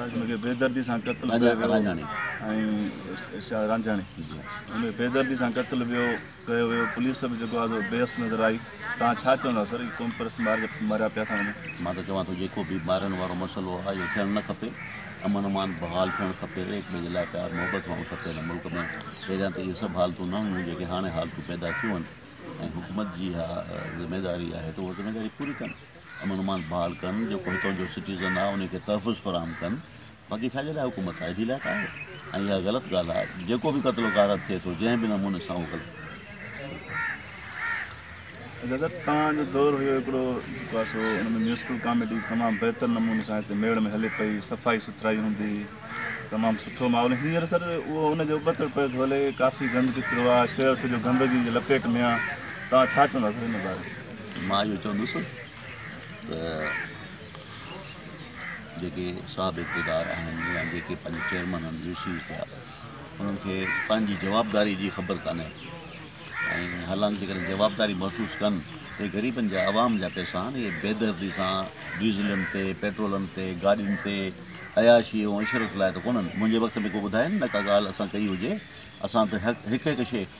ان کي بيدردي سان قتل ڪيو ويو ۽ ارشاد رانجهاڻي ان کي بيدردي سان قتل ويو ڪيو ويو پوليس به جيڪو آزو بيس نظر آئي تان ڇا چوندا سر ڪوم پرس مار ماريا پيا ٿا وڃن مان ته چوان ٿو جيڪو به مارن وارو مسئلو آهي اهو ٿيڻ نه کپي امن امان بحال ٿيڻ کپي ايڪ ٻئي جي لاء پيار محبت هئڻ کپي هن ملڪ ۾ پهريان ته اهي سڀ حالتون نه هيون جيڪي هاڻي حالتون پيدا ٿيون آهن ۽ حڪومت جي اها ذميواري آهي ته اها ذميواري پوري ڪن امن امان بحال ڪن جيڪو هتان جو سٽيزن آهي ان کي تحفظ فراهم ڪن باقي ڇا جي لاء حڪومت آئي ڊي لاء ڪا آهي ۽ اها غلط ڳالهه آهي جيڪو به قتل و غارت ٿئي ٿو جنهن به نموني سان اهو غلط دادا تان جو دور هيو هڪڙو جيڪو آهي سو ان ۾ ميوزيڪل ڪاميڊي تمام بهتر نموني سان هتي ميڙ ۾ هلي پئي صفائي سٿرائي هوندي تمام سٺو ماحول هينئر سر اهو ان جو ابتڙ پيو ٿو هلي ڪافي گند ڪچرو آهي شهر سڄو گندگي جي لپيٽ ۾ آهي تان ڇا چوندا سر ان باري مان اهو چوندس ته جيڪي صاحب اقتدار آهن يا جيڪي پنهنجي چيئرمين آهن وي سيز ٿيا انهن کي پنهنجي جوابداري جي خبر ڪانهي ۽ حالانڪ جيڪڏهن جوابداري محسوس ڪن ته غريبن جا عوام جا پيسا آهن اهي بيدردي سان ڊيزلن تي پيٽرولن تي گاڏين تي عياشي ۽ عشرت لاء ته ڪونهن منهنجي وقت ۾ ڪو ٻڌائي نه ڪا ڳالهه اسان ڪئي هجي اسان ته هڪ هڪ شيء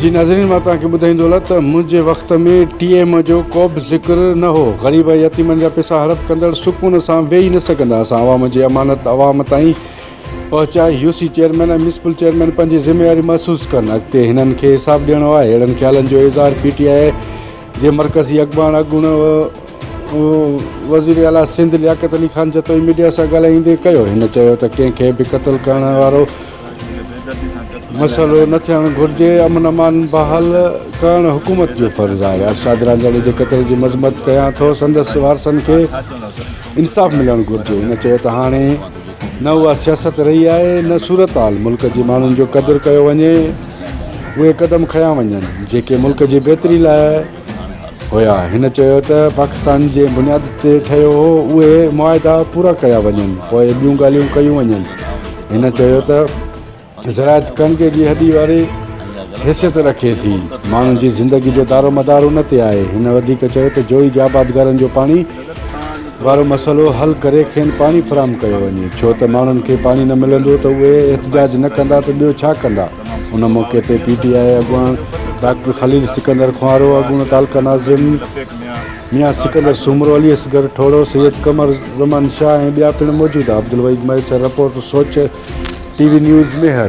جي ناظرين مان توهان کي ٻڌائيندو هلان ته منهنجي وقت ۾ ٽي ايم جو ڪوبه ذڪر نه هو غريب ۽ يتيمن جا پيسا هڙپ ڪندڙ سڪون سان ويهي نه سگهندا اسان عوام جي امانت عوام تائين پهچائي U C chairman ۽ municipal chairman پنهنجي ذميواري محسوس ڪن اڳتي هنن کي حساب ڏيڻو آهي اهڙن خيالن جو اظهار پي ٽي آئي جي مرڪزي اڳواڻ اڳوڻو وزير اعليٰ سنڌ لياقت علي خان جتوئي ميڊيا سان ڳالهائيندي ڪيو هن چيو ته ڪنهن کي به قتل ڪرڻ وارو مسئلو نه ٿيڻ گهرجي، امن امان بحال ڪرڻ حڪومت جو فرض آهي، ارشاد رانجاڻي جي قتل جي مذمت ڪيان ٿو، سندس وارثن کي انصاف ملڻ گهرجي، هن چيو ته هاڻي نه اها سياست رهي آهي نه صورتحال ملڪ جي ماڻهن جو قدر ڪيو وڃي، اهي قدم کنيا وڃن جيڪي ملڪ جي بهتري لاء. هيا. هن چيو ته پاڪستان جنهن بنياد تي ٺهيو هو، اهي معاهدا پورا ڪيا وڃن، پوء ٻيون ڳالهيون ڪيون وڃن. هن چيو ته زراعت ڪڻڪ جي هڏي واري حيثيت رکي ٿي، ماڻهن جي زندگي جو دارومدار ان تي آهي. هن وڌيڪ چيو ته جويي جي آبادگارن جو پاڻي وارو مسئلو حل ڪري کين پاڻي فراهم ڪيو وڃي، ڇو ته ماڻهن کي پاڻي نه ملندو ته اهي احتجاج نه ڪندا ته ٻيو ڇا ڪندا. ان موقعي تي پي ٽي آء اڳواڻ ڊاڪٽر خليل سڪندر خوارو، اڳوڻو تعلقه ناظم ميان سڪندر سومرو، علي اصغر ٺوڙهو، سيد قمر زمان شاهه ۽ ٻيا پڻ موجود ها، Abdulwahid Mahesar report Soch T V news Mehar.